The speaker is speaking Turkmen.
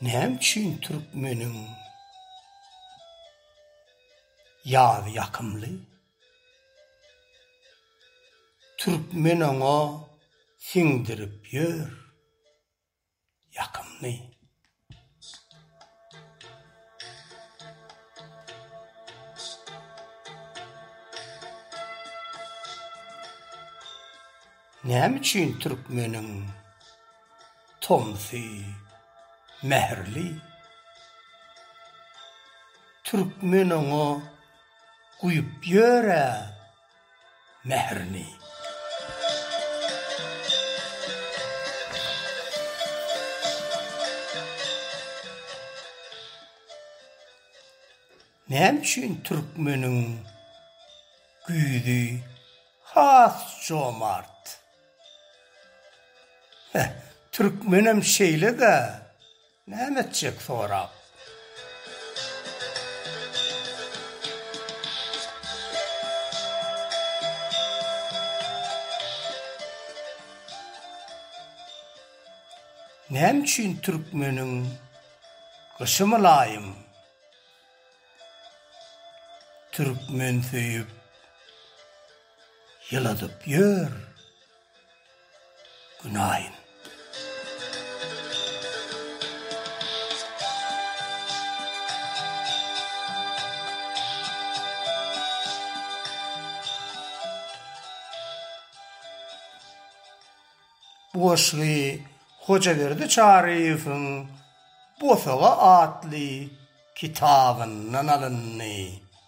Näme üçin türkmeniň ýazy ýakymly? Türkmen oňa siňdirip ýör ýakymny. Näme üçin türkmeniň tomsy mähirli. Türkmen oňa guýup ýör-ä mährini. Näme üçin türkmeniň güýzi has jomart? Heh, türkmenem şeýle-dä, näme etjek sorap. Näme üçin türkmeniň gyşy mylaýym? Türkmen söýüp. Ýyladyp ýör günaýyn. Bu goşgy Hojaberdi Çaryýewiň Bosaga atly kitabyndan alyndy.